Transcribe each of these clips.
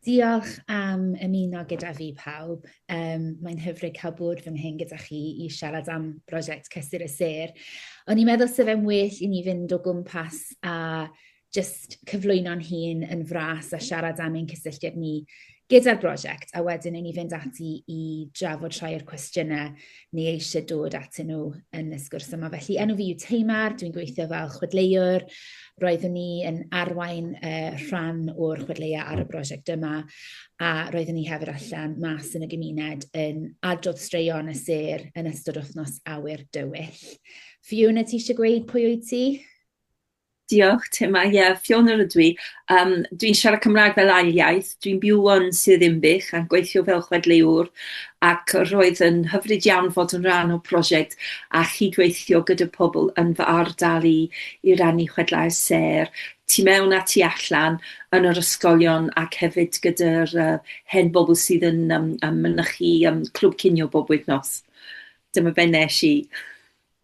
Diolch am ymuno gyda fi pawb. Um, Mae'n hyfryd cael bod fy nghyn gyda chi i siarad am brosiect Cysur y Sêr. O'n i'n meddwl sef e'n well i ni fynd o gwmpas a just cyflwyno'n hun yn fras a siarad am ein cysylltiad ni gyda'r brosiect, a wedyn i ni fynd ati i drafod rhai o'r cwestiynau ni eisiau dod atyn nhw yn y sgwrs yma. Felly, enw fi yw Teimar, dwi'n gweithio fel chwedleuwr. Roeddwn ni yn arwain uh, rhan o'r chwedleia ar y brosiect yma, a roeddwn ni hefyd allan mas yn y gymuned yn adrodd straeon y ser yn ystod wythnos awyr dywyll. Fiona, ti eisiau gweud pwy wyt ti? Diolch Tim, a ie, Fiona rydw i. Um, dwi'n siarad Cymraeg fel ail iaith, dwi'n byw yn Sir Ddinbych a gweithio fel chwedleuwr ac roedd yn hyfryd iawn fod yn rhan o prosiect a chydweithio gyda pobl yn fy ardal i i rannu chwedlau sêr tu mewn a tu allan yn yr ysgolion ac hefyd gyda'r uh, hen bobl sydd yn um, um, mynychu um, clwb cinio bob wythnos. Dyma be nes i.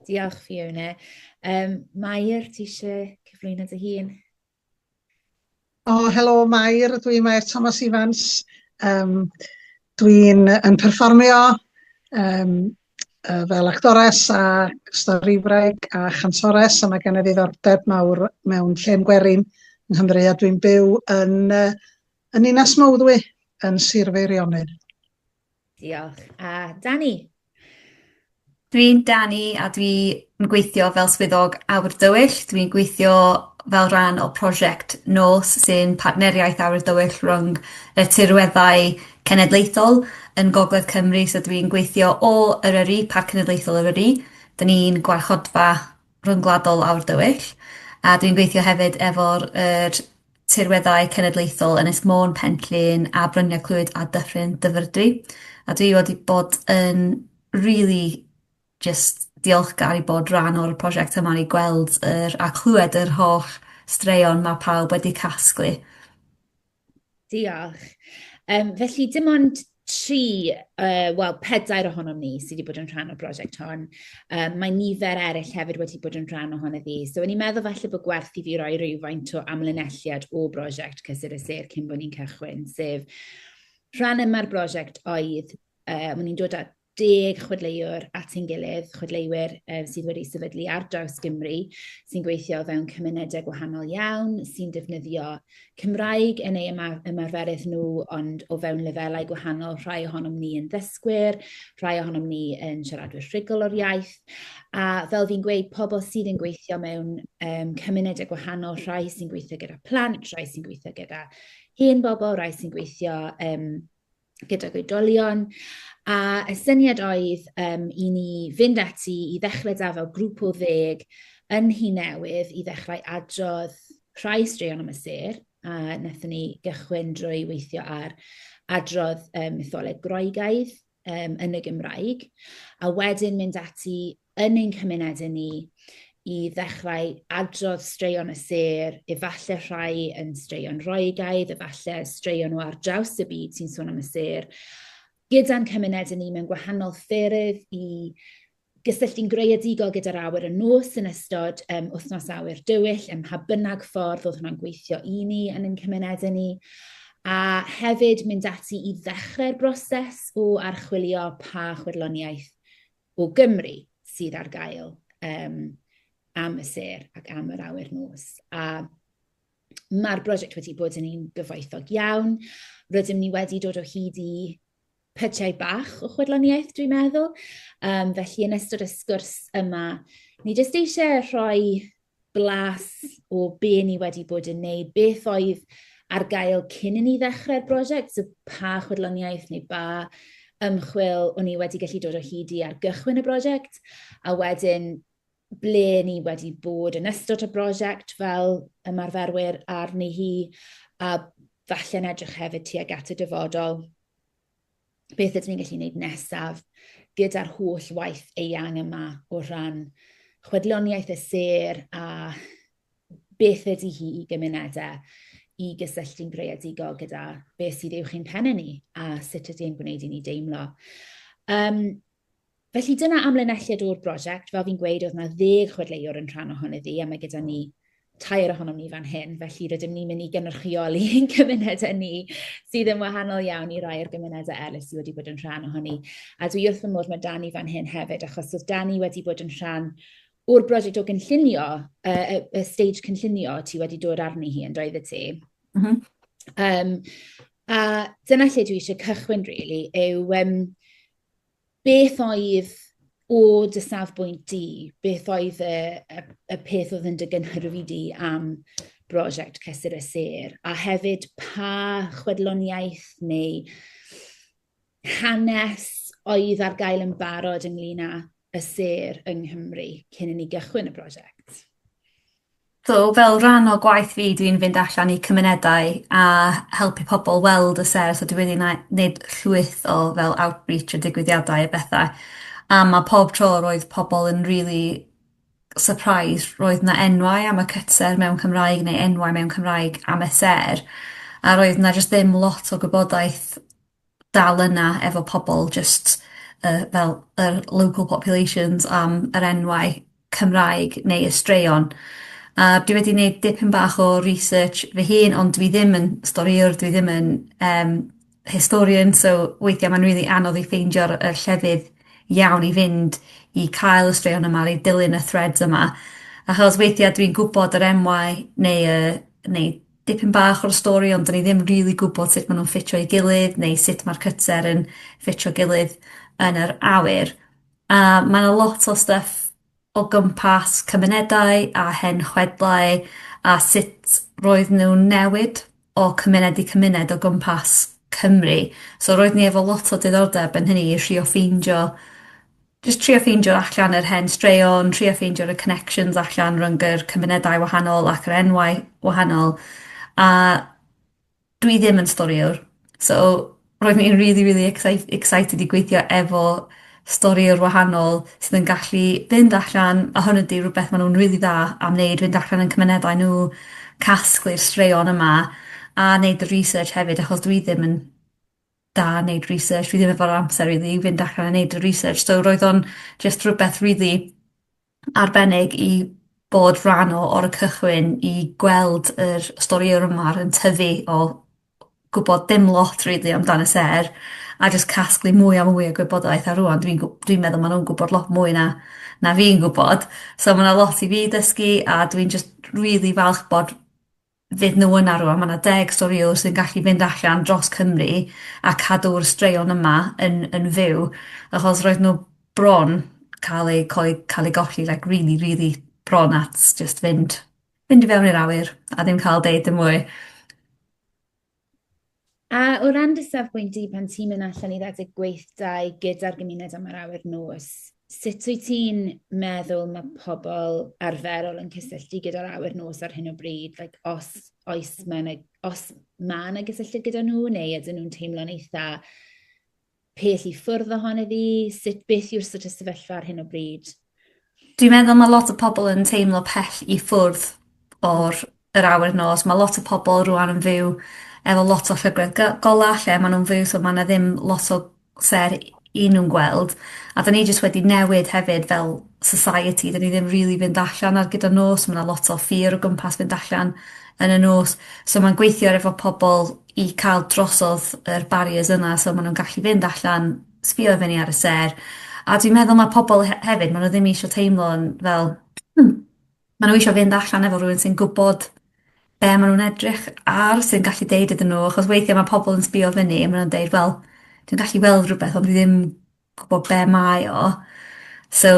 Diolch, Fiona. Um, Mair, ti eisiau cyflwyno dy hun? O, oh, helo, Mair. Dwi'n Mair Thomas Evans. Um, dwi'n yn perfformio um, uh, fel actores a storifraig a chantores a mae gen i ddiddordeb mawr mewn lle'n gwerin yng Nghymru a dwi'n byw yn, uh, yn Ninas Mowddwy yn Sir Feirionnydd. Diolch. A Dani? Dwi'n Dani a dwi'n gweithio fel swyddog awyr dywyll. Dwi'n gweithio fel rhan o prosiect nos sy'n partneriaeth awyr dywyll rhwng y tirweddau cenedlaethol yn Gogledd Cymru. So dwi'n gweithio o Eryri, Parc Cenedlaethol Eryri. 'Dyn ni'n gwarchodfa ryngwladol aur dywyll, a dwi'n gweithio hefyd efo'r yr tirweddau cenedlaethol Ynys Môn, Pen-llŷn a Bryniau Clwyd a Dyffryn Dyfrdwy. A dwi wedi bod yn rili jyst diolchgar i bod rhan o'r prosiect yma i gweld yr a chlwed yr holl straeon ma' pawb wedi casglu. Diolch. Um, felly, dim ond tri, uh, wel, pedair ohonom ni sydd wedi bod yn rhan o'r brosiect hon. Um, mae nifer eraill hefyd wedi bod yn rhan ohono fi. So, o'n i'n meddwl falle bod gwerth i fi roi rhywfaint o amlinelliad o brosiect Cysur y Sir cyn bod ni'n cychwyn, sef rhan yma'r brosiect oedd, uh, o'n i'n dod at deg chwedleuwr at ein gilydd, chwedleuwyr um, sydd wedi sefydlu ar draws Gymru, sy'n gweithio fewn cymunedau gwahanol iawn, sy'n defnyddio Cymraeg yn ei ymarferydd nhw, ond o fewn lefelau gwahanol, rhai ohonom ni yn ddysgwyr, rhai ohonom ni yn siaradwyr rhugl o'r iaith, a fel fi'n gweud, pobl sydd yn gweithio mewn um, cymunedau gwahanol, rhai sy'n gweithio gyda plant, rhai sy'n gweithio gyda hen bobl, rhai sy'n gweithio um, gydag oedolion, a y syniad oedd um, i ni fynd ati i ddechrau da fel grŵp o ddeg yn hi newydd i ddechrau adrodd rhai straeon am y ser, a wnaethon ni gychwyn drwy weithio ar adrodd um, mytholeg Groegaidd um, yn y Gymraeg, a wedyn mynd ati yn ein cymunedau ni i ddechrau adrodd straeon y sêr, efallai rhai yn straeon roegaidd, efallai straeon o ar draws y byd sy'n sôn am y sêr, gyda'n cymunedau ni mewn gwahanol ffyrdd i gysylltu'n greadigol gyda'r awyr y nos yn ystod um, wythnos awyr dywyll, ym mha bynnag ffordd oedd hwnna'n gweithio i ni yn ein cymunedau ni a hefyd mynd ati i ddechrau'r broses o archwilio pa chwirloniaeth o Gymru sydd ar gael um, am y ser ac am yr awyr nos. A mae'r brosiect wedi bod yn un gyfoethog iawn. Rydym ni wedi dod o hyd i pytiau bach o chwedloniaeth, dwi'n meddwl. Um, felly, yn ystod y sgwrs yma, ni jyst eisiau rhoi blas o be ni wedi bod yn neud, beth oedd ar gael cyn i ni ddechrau'r brosiect, so pa chwedloniaeth neu ba ymchwil o'n ni wedi gallu dod o hyd i ar gychwyn y brosiect, a wedyn ble ni wedi bod yn ystod y brosiect fel ymarferwyr arni hi, a falle'n edrych hefyd tuag at y dyfodol. beth ydyn ni'n gallu gwneud nesaf gyda'r holl waith eang yma o ran chwedloniaeth y ser a beth ydy hi i gymunedau i gysylltu'n greadigol gyda beth sydd i'w chi'n penne ni a sut ydy e'n gwneud i ni deimlo. Um, Felly dyna amlinelliad o'r brosiect. Fel fi'n gweud, oedd 'na ddeg chwedleuwr yn rhan ohoni ddi, a mae gyda ni tair ohonom ni fan hyn, felly rydym ni'n mynd i gynrychioli ein cymunedau ni, sydd yn wahanol iawn i rai o'r gymunedau eraill sydd wedi bod yn rhan ohoni. A dwi wrth fy modd, mae Dani fan hyn hefyd, achos oedd Dani wedi bod yn rhan o'r brosiect o gynllunio, y, y, y stage cynllunio ti wedi dod arni hi, yn doedd y ti? Mm -hmm. um, a dyna lle dwi eisiau cychwyn, really, yw... Um, beth oedd o dy safbwynt di, beth oedd y, y, y peth oedd yn dy gynhyrfu di am brosiect Cysur y Sêr, a hefyd pa chwedloniaeth neu hanes oedd ar gael yn barod ynglyn â y sêr yng Nghymru cyn i ni gychwyn y prosiect? So, fel rhan o gwaith fi, dwi'n fynd allan i cymunedau a helpu pobl weld y ser, so dwi wedi na- neud llwyth o fel outreach a digwyddiadau a betha, a ma' pob tro roedd pobl yn rili surprised roedd 'na enwau am y cytser mewn Cymraeg neu enwau mewn Cymraeg am y sêr a roedd 'na jyst ddim lot o gwybodaeth dal yna efo pobol jyst y fel yr local populations am yr enwau Cymraeg neu y straeon. A dwi wedi neud dipyn bach o research fy hun ond dwi ddim yn storïwr dwi ddim yn yym historian so weithia' ma'n rili anodd i ffeindio'r y llefydd iawn i fynd i cael y straeon yma i dilyn y threads yma achos weithia' dwi'n gwbod yr enwau neu y neu dipyn bach o'r stori ond 'dyn ni ddim rili gwbod sut ma' nw'n ffitio i gilydd neu sut ma'r cytser yn ffitio gilydd yn yr awyr. A ma' 'na lot o styff o gwmpas cymunedau a hen chwedlau a sut roedd nw'n newid o cymuned i cymuned o gwmpas Cymru. So roedd ni efo lot o diddordeb yn hynny i trio ffeindio jyst trio ffeindio allan yr hen straeon, trio ffeindio y connections allan rhwng yr cymunedau wahanol ac yr enwau wahanol, a dwi ddim yn storïwr, so roedd hi'n rili rili excite- excited i gweithio efo storïwr wahanol sydd yn gallu fynd allan, a hwn ydi rwbeth ma' nw'n rili dda am neud, fynd allan yn cymunedau nw, casglu'r straeon yma, a neud y research hefyd achos dwi ddim yn da neud research fi ddim efo'r amser rili i fynd allan a neud y research so roedd o'n jyst rwbeth rili arbennig i bod rhan o o'r cychwyn i gweld yr storïa o'r ma'r yn tyfu o gwbod dim lot rili amdan y sêr a jyst casglu mwy a mwy o gwybodaeth a rŵan dwi'n gw- dwi'n meddwl ma' nw'n gwbod lot mwy na na fi'n gwbod so ma' 'na lot i fi dysgu a dwi'n jyst rili falch bod fyd nhw yna rŵan. Ma' 'na deg storïwr sy'n gallu mynd allan dros Cymru a cadw'r straeon yma yn yn fyw achos roedd n'w bron ca'l eu coe- ca'l eu golli like rili rili bron at jyst fynd fynd i fewn i'r awyr a ddim ca'l deud dim mwy. A o ran dy safbwynt di pan ti'n mynd allan i redeg gweithdai gyda'r gymuned am yr awyr nos, sut wyt ti'n meddwl mae pobl arferol yn cysylltu gyda'r awyr nos ar hyn o bryd? Like, os, oes mae yna, os mae yna gysylltiad gyda nhw, neu ydyn nhw'n teimlo'n eitha Peth i ffwrdd ohon iddi, sut, beth yw'r sort of sefyllfa ar hyn o bryd? Dwi'n meddwl mae lot o pobl yn teimlo pell i ffwrdd o'r yr awyr nos. Mae lot o pobl rwan yn fyw efo lot o llygredd go- gola' lle ma' nw'n fyw so ma' 'na ddim lot o ser i nw'n gweld a 'dan ni jyst wedi newid hefyd fel society 'dan ni ddim rili fynd allan ar gyfer nos ma' 'na lot o ffyr o gwmpas fynd allan yn y nos so ma'n gweithio efo pobol i ca'l drosodd yr barriers yna so ma' nw'n gallu fynd allan, sbïo i fyny ar y sêr, a dwi'n meddwl ma' pobol he- hefyd ma' nw ddim isio teimlo'n fel hmm ma' nw isio fynd allan efo rywun sy'n gwbod be' ma' nw'n edrych ar sy'n gallu deud iddyn nw achos weithie ma' pobol yn sbïo fyny a ma' nw'n deud wel dwi'n gallu weld rwbeth ond dwi ddim gwbo be' mae o. So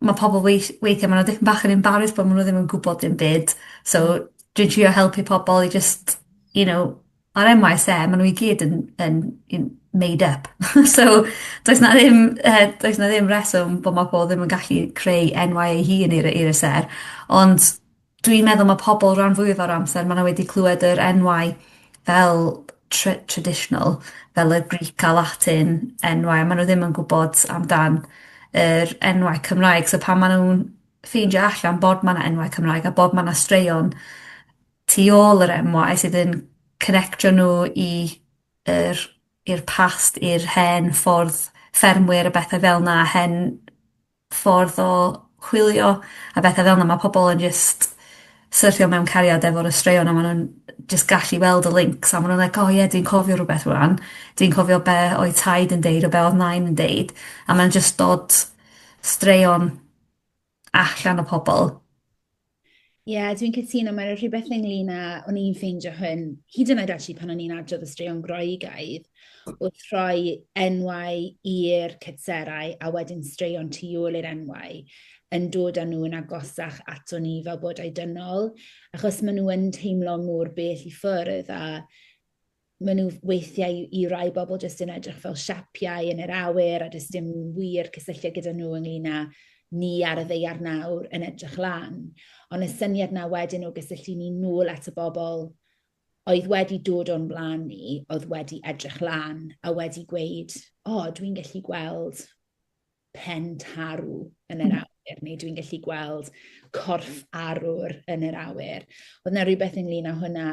ma' pobol weith- weithie ma' nw dipyn bach yn embarrased bo' ma' nw ddim yn gwbod dim byd so dwi'n trio helpu pobol i jyst you know ar em wai e's em ma' nw i gyd yn yn yn made up so does 'na ddim yy does 'na ddim reswm bo' ma' pobol ddim yn gallu creu enwau ei hun i'r yy i'r y sêr ond Dwi'n meddwl ma' pobol ran fwyaf o'r amser ma' n'w wedi clwed yr enwau fel tr- traditional fel y Greek a Latin enwau a ma' n'w ddim yn gwbod amdan yr enwau Cymraeg so pan ma' nw'n ffeindio allan bod ma' 'na enwau Cymraeg a bod ma' 'na straeon tu ôl yr enwau sydd yn connectio n'w i yr i'r past i'r hen ffordd ffermwyr a bethe fel 'na a hen ffordd o chwilio a betha fel 'na ma' pobol yn jyst syrthio mewn cariad efo'r y straeon a ma' nw'n jyst gallu weld y lincs a ma' nw'n like o ie dwi'n cofio rwbeth rŵan dwi'n cofio be' oedd taid yn deud a be' odd nain yn deud a ma'n jyst dod straeon allan o pobol. Ie, yeah, dwi'n cytuno, mae'n rhywbeth ynglyn â, o'n i'n ffeindio hyn, hyd yn oed ati pan o'n i'n adrodd y straeon Groegaidd, wrth rhoi enwau i'r cytserau a wedyn straeon tu ôl i'r enwau, yn dod â nhw'n agosach ato ni fel bod dynol, achos maen nhw yn teimlo mor bell i ffwrdd a maen nhw weithiau i i rai bobl jyst yn edrych fel siapiau yn yr awyr a does dim wir cysylltiad gyda nhw ynglyn â ni ar y ddeiar nawr yn edrych lan. Ond y syniad 'na wedyn o gysylltu ni nôl at y bobl oedd wedi dod o'n blaen ni, oedd wedi edrych lan a wedi gweud, 'O, dwi'n gallu gweld pen tarw yn yr hmm. awyr, neu dwi'n gallu gweld corff arwr yn yr awyr. Oedd yna rhywbeth ynglyn â hwnna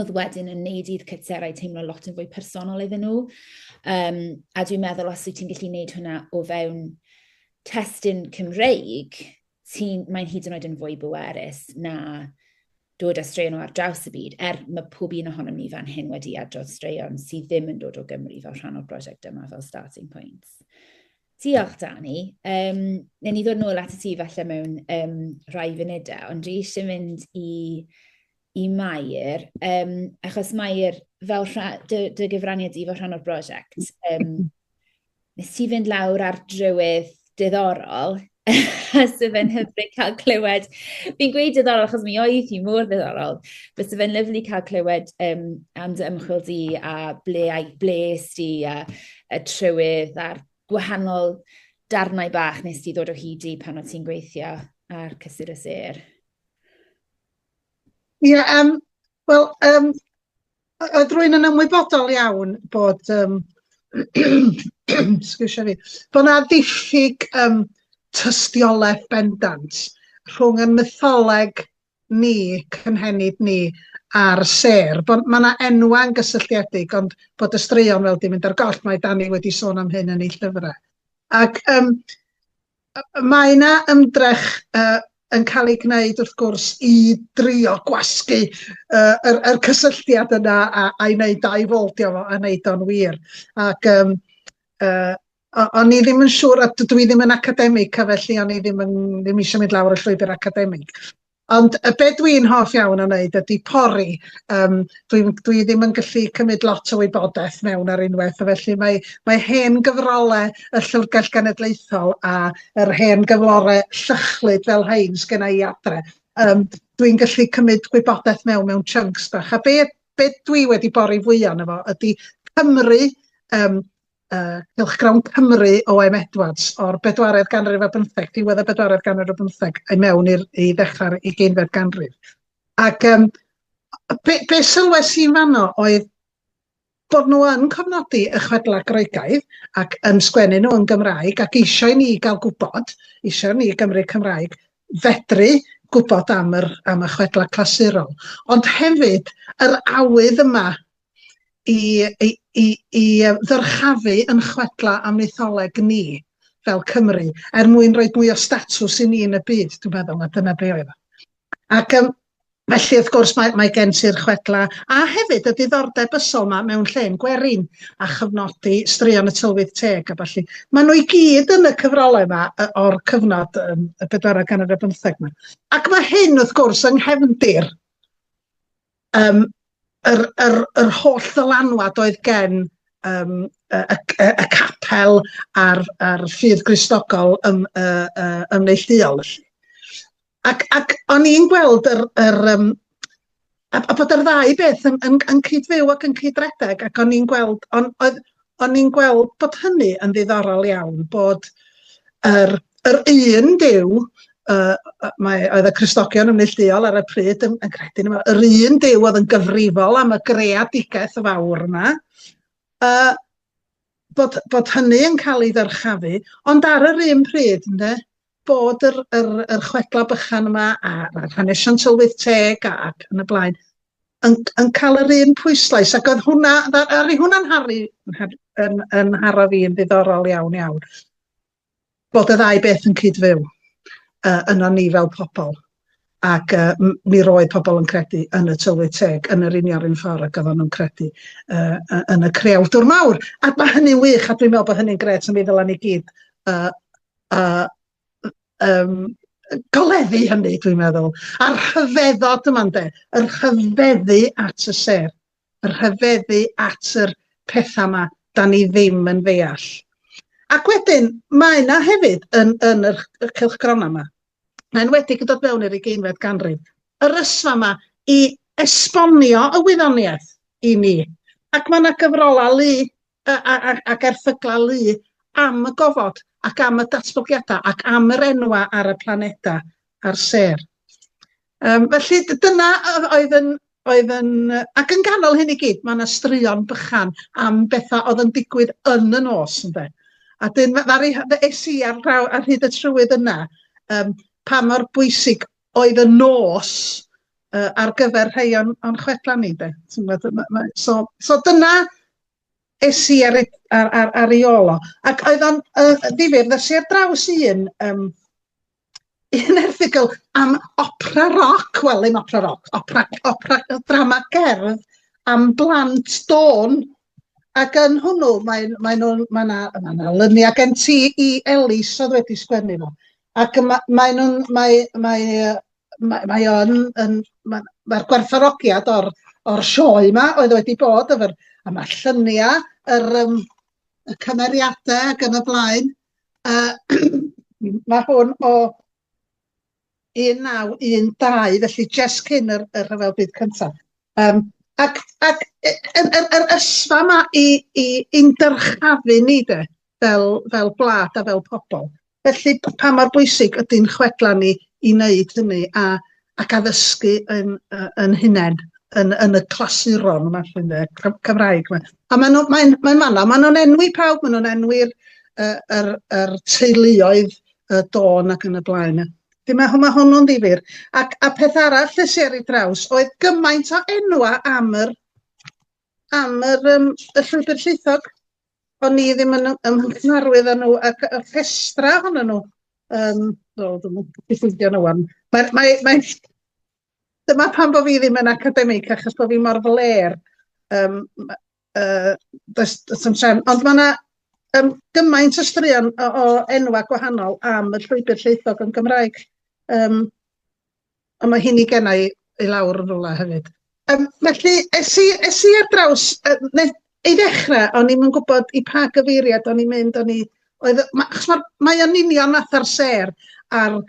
oedd wedyn yn neud i'r cytserau teimlo lot yn fwy personol iddyn nhw. Um, a dwi'n meddwl os wyt ti'n gallu neud hwnna o fewn testyn Cymreig, ti'n, mae'n hyd yn oed yn fwy bwerus na dod â straeon o ar draws y byd, er mae pob un ohonom ni fan hyn wedi adrodd straeon sydd ddim yn dod o Gymru fel rhan o'r brosiect yma fel starting points. Diolch, Dani. Um, Neu ni ddod nôl at y ti falle mewn um, rhai funudau, ond dwi eisiau mynd i, i Mair, um, achos Mair, fel rha, dy, dy gyfraniad i fel rhan o'r brosiect, um, nes ti fynd lawr ar drywydd diddorol, sydd fe'n hyfryd cael clywed. Fi'n gweud diddorol achos mi oedd hi mor ddiddorol. Bysa fe'n lyflu cael clywed um, am dy ymchwil di a ble, a ble di a, a trywydd a'r gwahanol darnau bach nes ti ddod o hyd i pan o ti'n gweithio ar cysur y ser. Ie, yeah, um, wel, um, Oedd rwy'n yn ymwybodol iawn bod, um, sgwrsio fi, bod yna ddiffyg um, tystiolaeth bendant rhwng y mytholeg ni, cynhenid ni, a'r ser. Bod, mae yna enwau'n gysylltiedig, ond bod y straeon fel di mynd ar goll, mae Dani wedi sôn am hyn yn ei llyfrau. Ac um, Mae yna ymdrech yn cael ei gwneud wrth gwrs i drio gwasgu yr cysylltiad yna a'i wneud dau fold iddo fo a wneud o'n wir. Ac yym o'n i ddim yn siŵr, dydw i ddim yn academig felly o'n i ddim eisiau mynd lawr y llwybr academig. Ond yy be' dwi'n hoff iawn o wneud ydi pori, yym dwi'm dwi ddim yn gallu cymryd lot o wybodaeth mewn ar unwaith, a felly mae mae hen gyfrole y Llyfrgell Genedlaethol a yr hen gyflore llychlyd fel rhein sgynna i adre, yym dwi'n gallu cymryd gwybodaeth mewn mewn chunks bach, a be' be' dwi wedi bori fwya o'no fo ydi Cymru, yym uh, cylchgrawn Cymru O.M. Edwards o'r bedwaredd ganrif ar bymtheg, diwedd y bedwaredd ganrif ar bymtheg, i mewn i'r i ddechrau'r ugeinfed ganrif. Ac um, be, be sylwes i'n fanno oedd bod nhw yn cofnodi y chwedlau Groegaidd ac yn sgwennu nhw yn Gymraeg ac eisiau ni gael gwybod, eisiau ni Gymru Cymraeg fedru gwybod am, yr, am y chwedlau clasurol. Ond hefyd, yr awydd yma i, i, i, i ddyrchafu yn chwedla am mytholeg ni fel Cymru, er mwyn rhoi mwy o statws i ni yn y byd, dwi'n meddwl, a dyna be oedd o. Ac um, felly, wrth gwrs, mae, mae gen ti'r chwedla, a hefyd y diddordeb ysol yma mewn lle'n gwerin, a chyfnodi straeon y tylwyth teg a falle. Mae nhw i gyd yn y cyfrolau yma o'r cyfnod um, y bedwarau gan yr bymtheg yma. Ac mae hyn, wrth gwrs, yng nghefndir Yym yr yr yr holl ddylanwad oedd gen yym y y y y capel a'r a'r ffydd Gristnogol ym yy yy yn neillduol felly. Ac ac o'n i'n gweld yr yr yym a a bod yr ddau beth yn yn yn cyd-fyw ac yn cyd-redeg ac o'n i'n gweld on' oedd o'n i'n gweld bod hynny yn ddiddorol iawn, bod yr, yr un Duw, uh, mae, oedd y Cristogion yn neillduol ar y pryd yn, yn credu yma, yr un Duw oedd yn gyfrifol am y greadigaeth fawr yma, uh, bod, bod hynny yn cael ei ddyrchafu, ond ar yr un pryd, ynddo, bod yr yr yr chwedla bychan yma a a hanesion tylwyth teg a- ac yn y blaen yn yn cael yr un pwyslais ac oedd hwnna dda- aru hwnna'n harfu yn har- yn yn nharo fi yn ddiddorol iawn iawn bod y ddau beth yn cyd-fyw yy yno ni fel pobl ac yy m- mi roedd pobl yn credu yn y tylwyth teg yn yr union un ffordd ac oeddan nhw'n credu yy yy yn y creawdwr mawr a ma' hynny'n wych a dwi'n meddwl bod hynny'n grêt a mi ddylan ni gyd yy A yym goleddu hynny dwi'n meddwl. A'r rhyfeddod yma ynde, yr rhyfeddu at y sêr, yr rhyfeddu at yr pethau yma da ni ddim yn ddeall. Ac wedyn, mae yna hefyd yn, yn yr, y cylchgronau yma, yn enwedig yn dod mewn i'r ugeinfed ganrif, yr ysfa yma i esbonio y wyddoniaeth i ni. Ac mae yna gyfrolau lu a, a, a, ac erthyglau lu am y gofod ac am y datblygiadau ac am yr enwau ar y planedau a'r sêr. Um, felly dyna oedd yn, oedd yn... Ac yn ganol hyn i gyd, mae yna straeon bychan am bethau oedd yn digwydd yn y nos, ynde. A dyn, ddari, es i ar, draw, ar hyd y trywydd yna, um, pa mor bwysig oedd y nos uh, ar gyfer rhai o'n, on chwedlau ni, de. So, so dyna, es i ar, ar, ar, ar ei ôl o. Ac oedd o'n uh, ddifur, ddes i ar draws un, um, un erthigol am opera roc, wel ddim opera roc, opera, opera drama gerdd am blant dôn. Ac yn hwnnw, mae, mae nhw, mae yna ma na lyniau gen ti i Elis oedd wedi sgwennu fo. Ac mae, mae nhw'n, mae, mae, mae mae o yn yn ma' ma'r gwerthfawrogiad o'r o'r sioe 'ma oedd wedi bod efo'r a ma'r llunia' yr yym y cymeriade ag yn y blaen yy ma' hwn o 1912 felly jest cyn yr y rhyfel byd cynta. Yym ac ac y yr yr ysfa 'ma i i i'n dyrchafu ni de. fel, fel gwlad a fel pobl. Felly, pa mor bwysig ydy'n chwedlau ni i wneud hynny a, ac addysgu yn, yn hunain, yn, yn y clasuron yma, llwy'n dde, Cymraeg yma. A maen nhw'n mae, mae fanna, maen nhw'n enwi pawb, maen nhw'n enwi'r er, er, er teuluoedd y dôn ac yn y blaen. Felly mae, mae hwnnw'n ddifur. Ac, a peth arall lle si ar ei draws oedd gymaint o enwa am yr, am yr, um, y llwybr llaethog. o'n i ddim yn ym nghymharwydd â nhw ac y rhestra ohonyn nhw yym wel dwi'm yn gallu ffeindio nhw ŵan mae mae mae dyma pam bo' fi ddim yn academig achos bo' fi mor flêr yym ma- yy does does na'm trefn ond ma' 'na yym gymaint o straeon o o enwa' gwahanol am y llwybr llwythog yn Gymraeg yym Ond mae hyn i genna i i lawr yn rwla hefyd. Um, felly, es i, es i ar draws, uh, ei ddechrau, o'n i'n gwybod i pa gyfeiriad o'n i'n mynd, o'n i, oedd, ma, achos mae'r, mae o'n union fath ar ser ar,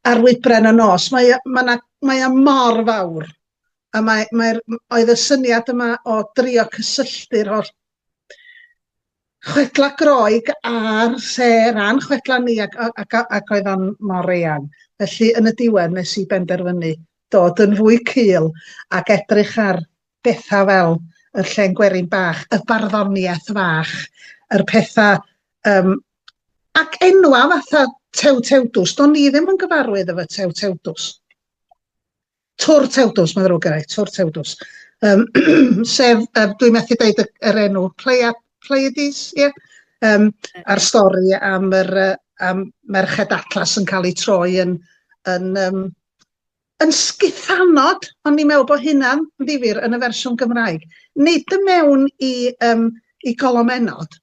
ar wybren y nos, mae, mae, na, mae o mor fawr, a mae, mae, oedd y syniad yma o drio cysylltu'r holl Chwedlau Groeg ar lle ran chwedlau ni ac, ac, ac oedd o'n mor eang. Felly yn y diwedd nes i benderfynu dod yn fwy cul ac edrych ar bethau fel y llen gwerin bach, y barddoniaeth fach, yr pethau um, ac enwa fatha Tew Tewdws. Do'n ni ddim yn gyfarwydd efo Tew Tewdws. Tŵr Tewdws, mae'n ddrwg gennai, Tŵr Tewdws. Um, sef, um, dwi'n methu dweud yr enw, Pleia, Pleiades, ie? Yeah? Um, a'r stori am, yr, am Merched Atlas yn cael ei troi yn, yn, um, yn sgithanod, ond ni'n meddwl bod hynna'n ddifur yn y fersiwn Gymraeg. Nid y mewn i, um, i golomennod,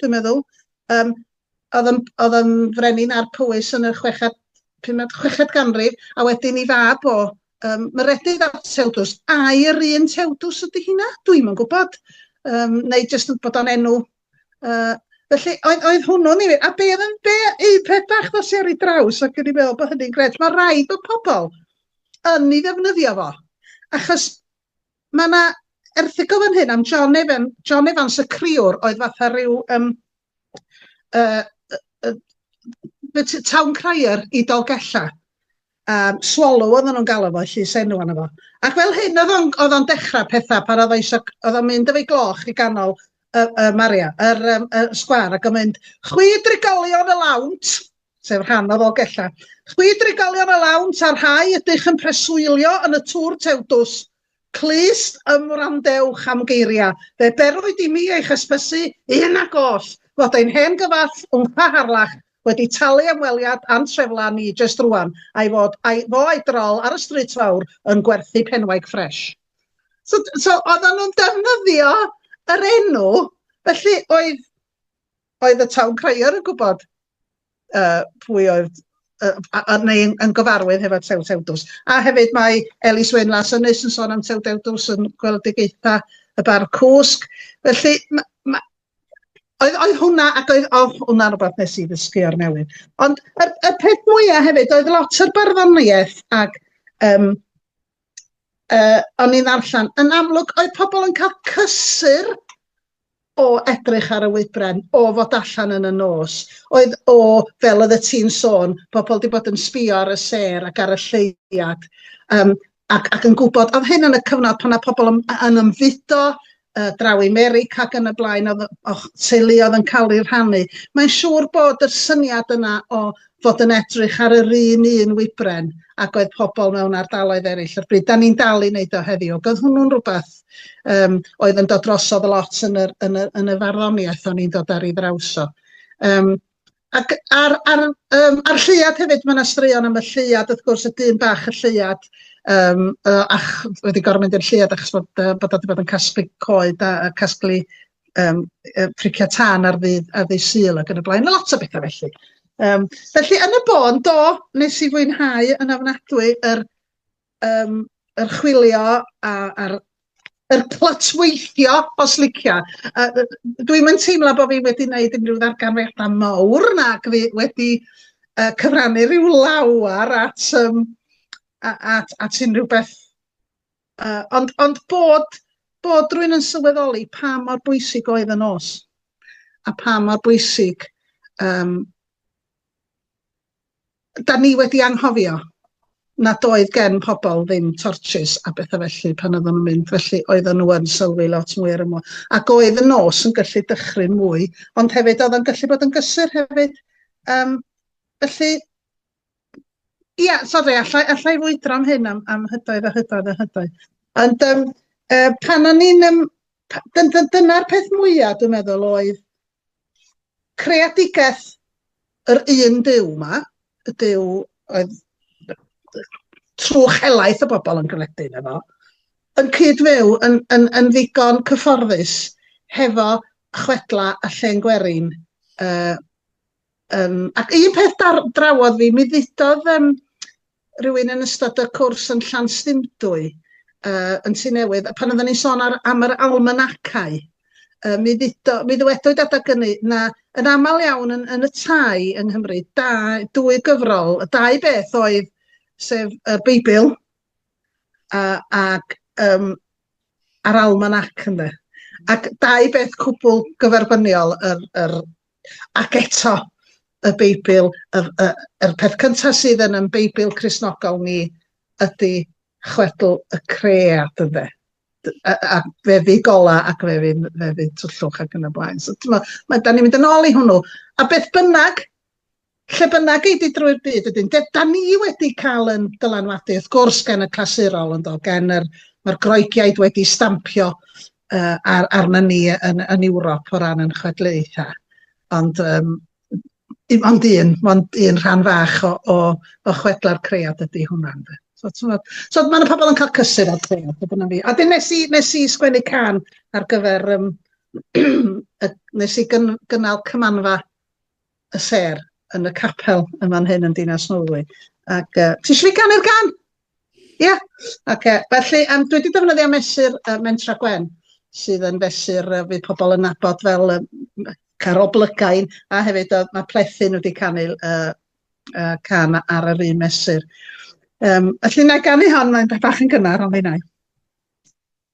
dwi'n meddwl. Yym oedd yn oedd yn frenin ar Powys yn y chweched, pumed, chweched ganrif, a wedyn i fab o, um, Meredydd a Tewdws. Ai yr un Tewdws ydy hynna? Dwi'm yn gwybod. Um, neu jyst bod o'n enw uh, Felly, oedd, oedd hwnnw'n ei... A be oedd yn be, eu peth bach ddos i ar ei draws ac yn ei meddwl bod hynny'n gret. Mae rhaid bod pobl yn ei ddefnyddio fo. Achos Mae 'na erthygl fan hyn am John Evan, John Evans y criwr oedd fatha rhyw um, uh, uh, uh, town crier i Dolgella. Um, swallow oedden nhw'n galw fo, llys enw anna fo. Ac fel hyn oedd o'n, oedd o'n dechrau pethau pan oedd eisiau, oedd o'n mynd efo'i gloch i ganol y, y Maria, yr, um, y sgwar, ac o'n mynd, chwi drigolion y lawnt, sef rhan o Ddolgellau. Chwi drigolion a lawn, ta rhai ydych yn preswylio yn y Tŵr Tewdws, clust ymwrandewch am geiriau, fe berwyd i mi eich hysbysu, un ac oll, fod ein hen gyfall Wmpa Harlach wedi talu am weliad a'n treflan ni jest rwan, a'i fod a'i fo a'i drol ar y Stryd Fawr yn gwerthu penwaig ffresh. So, so oedden nhw'n defnyddio yr enw, felly oedd Oedd y town crier yn gwybod uh, pwy oedd uh, a, a, neu yn, yn gyfarwydd hefo Tew Tewdws. A hefyd mae Elis Wyn Las Ynys yn sôn am Tew Tewdws yn gweledigaetha y bar cwsg. Felly, ma, ma, oedd, oedd hwnna, ac oedd, oh, hwnna rhywbeth nes i ddysgu o'r newydd. Ond y, y peth mwyaf hefyd, oedd lot o'r barddoniaeth ac um, yy o'n i'n ddarllen, yn amlwg oedd pobl yn cael cysur o edrych ar y wybren, o fod allan yn y nos, oedd o, fel oedd y ti'n sôn, pobl wedi bod yn sbio ar y sêr ac ar y lleuad, um, ac, ac yn gwybod, oedd hyn yn y cyfnod pan oedd pobl yn, yn ymfudo, yy draw i Merica ac yn y blaen o'dd yy o'ch teulu oedd yn cael eu rhannu. Mae'n siŵr bod yr syniad yna o fod yn edrych ar yr un un wybren ac oedd pobl mewn ardaloedd eraill o'r bryd. Da ni'n dal i wneud o heddiw. Ac oedd hwnnw'n rhywbeth um, oedd yn dod drosodd lot yn, yr, yn, y, yn y farddoniaeth o'n i'n dod ar ei ddraws o. Um, Ac ar ar yym ar lleuad hefyd mae 'na straeon am y lleuad wrth gwrs y dyn bach y lleuad yym yy ach wedi gorfod mynd i'r lleuad achos bod yy bod o 'di bod yn casglu coed a a casglu yym yy pricia tân ar ddydd ar ddydd Sul ac yn y blaen, ma' lot o betha felly. Yym felly yn y bôn do, nes i fwynhau yn ofnadwy yr Yym, yr chwilio a, a'r yr clytweithio os licia. Yy dwi'm yn teimlo bod fi wedi wneud unrhyw ddarganfyddiadau mawr nac fi wedi yy cyfrannu rhyw lawer at yym at at unrhyw beth yy ond ond bod bod rwy'n yn sylweddoli pa mor bwysig oedd y nos a pa mor bwysig yym 'dan ni wedi anghofio nad oedd gen pobl ddim tortshys a betha felly pan oedden nhw'n mynd, felly oedden nhw yn sylwi lot mwy ar y môr. Ac oedd y nos yn gallu dychryn mwy, ond hefyd oedd o'n gallu bod yn gysur hefyd. Um, felly, ia, sori, allai, allai fwydro am hyn am, am hydoedd a hydoedd a hydoedd. Ond um, uh, pan o'n i'n... Um, Dyna'r peth mwyaf, dwi'n meddwl, oedd creadigaeth yr un Duw 'ma, y Duw oedd trwch helaeth y bobl yn gredu yno fo, yn cyd-fyw yn, yn, yn ddigon cyfforddus hefo chwedla a llen gwerin. Uh, um, ac un peth dar, drawodd fi, mi ddudodd um, rywun yn ystod y cwrs yn Llanstymdwy yy yn Tŷ Newydd a pan oedden ni'n sôn ar am yr almanacau yy mi ddudo mi ddywedwyd adag ynny na yn aml iawn yn yn y tai yng Nghymru da dwy gyfrol y dau beth oedd sef y Beibl a ac yym a'r almanac ynde ac dau beth cwbl gyferbyniol yr yr Ac eto, y Beibl, y, y, yr peth cyntaf sydd yn yn Beibl Crisnogol ni ydy chwedl y cread, ynddo a, a fe fydd gola ac fe fydd, fe fydd twllwch ac yn y blaen. So, ma, ma, da ni'n mynd yn ôl i hwnnw. A beth bynnag, Lle bynnag ei di drwy'r byd wedyn, de, da ni wedi cael yn dylanwadu, wrth gwrs, gan y clasurol, yn do, gan yr, mae'r Groegiaid wedi stampio uh, ar, arna ni yn, yn Ewrop o ran yn chwedlaethau. Ond, um, ond un, ond un rhan fach o, o, o chwedla'r cread ydy hwnna. So, so mae yna pobl yn cael cysur o'r cread, dyna fi. A dyn nes i, nes i sgwennu can ar gyfer, um, nes i gyn, gynnal cymanfa y sêr yn y capel yn fan hyn yn Dinas Nolwy. Ac uh, ti eisiau fi ganu'r gan? Ie. Yeah. Ac uh, felly, um, dwi wedi defnyddio mesur uh, Mentra Gwen, sydd yn fesur uh, fydd pobl yn nabod fel um, Carol Blygain, a hefyd uh, mae Plethin wedi canu uh, uh, can ar yr un mesur. Um, felly, na ganu hon, mae'n bach yn gynnar, ond fi'n ei.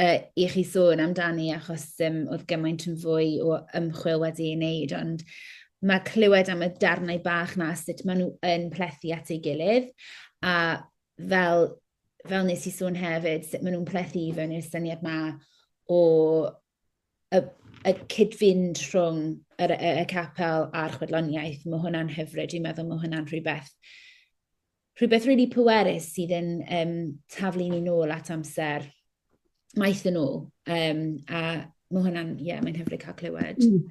uh, i chi sôn amdani achos um, oedd gymaint yn fwy o ymchwil wedi ei wneud, ond mae clywed am y darnau bach na sut maen nhw yn plethu at ei gilydd a fel, fel nes i sôn hefyd, sut maen nhw'n plethu i fewn i'r syniad ma o y, y cyd-fynd rhwng y, y, y capel a'r chwedloniaeth. Mae hwnna'n hyfryd, dwi'n meddwl mae hwnna'n rhywbeth rhywbeth really pwerus sydd yn um, taflu ni nôl at amser maith yn ôl. Um, a mae hwnna'n, ie, yeah, mae'n hyfryd cael clywed. Mm.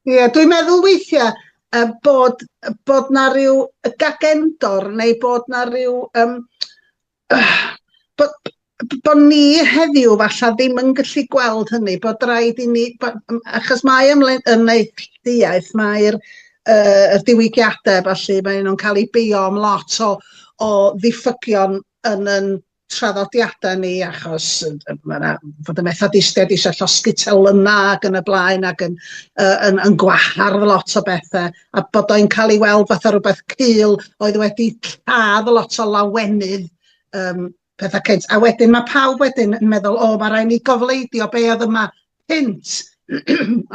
Ie, yeah, dwi'n meddwl weithiau uh, bod, bod na rhyw gagendor neu bod na rhyw... Um, uh, bod, bod ni heddiw falle ddim yn gallu gweld hynny, bod rhaid i ni, bod, achos mae ymwneud mae'r uh, y diwygiadau felly, mae nhw'n cael eu beio am lot o, o ddiffygion yn yn traddodiadau ni achos mae yna fod y methodistiaid eisiau llosgi telynna ac yn y blaen ac yn, uh, yn, yn gwahardd lot o bethau a bod o'n cael ei weld fatha rhywbeth cul oedd wedi lladd lot o lawenydd um, petha cynt. A wedyn mae pawb wedyn yn meddwl, o, mae rhaid ni gofleidio be oedd yma cynt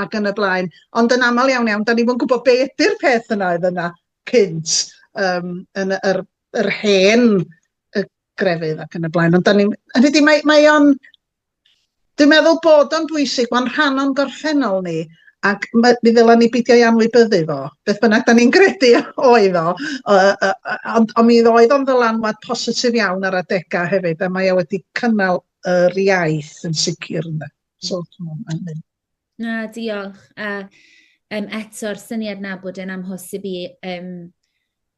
ac yn y blaen. Ond yn aml iawn iawn, da ni fod yn gwybod be ydy'r peth yna oedd yna cynt um, yn yr, yr hen y grefydd ac yn y blaen. Ond da ni, hynny di, mae, mae o'n Dwi'n meddwl bod o'n bwysig, mae'n rhan o'n gorffennol ni, ac mi ddylen ni beidio ei anwybyddu fo, beth bynnag da ni'n gredu oedd o, ond on mi oedd o'n ddylanwad positif iawn ar adegau hefyd, a mae o wedi cynnal yr iaith yn sicr yna. So, mm. Na, diolch. A um, eto'r syniad na bod e'n amhosib i um,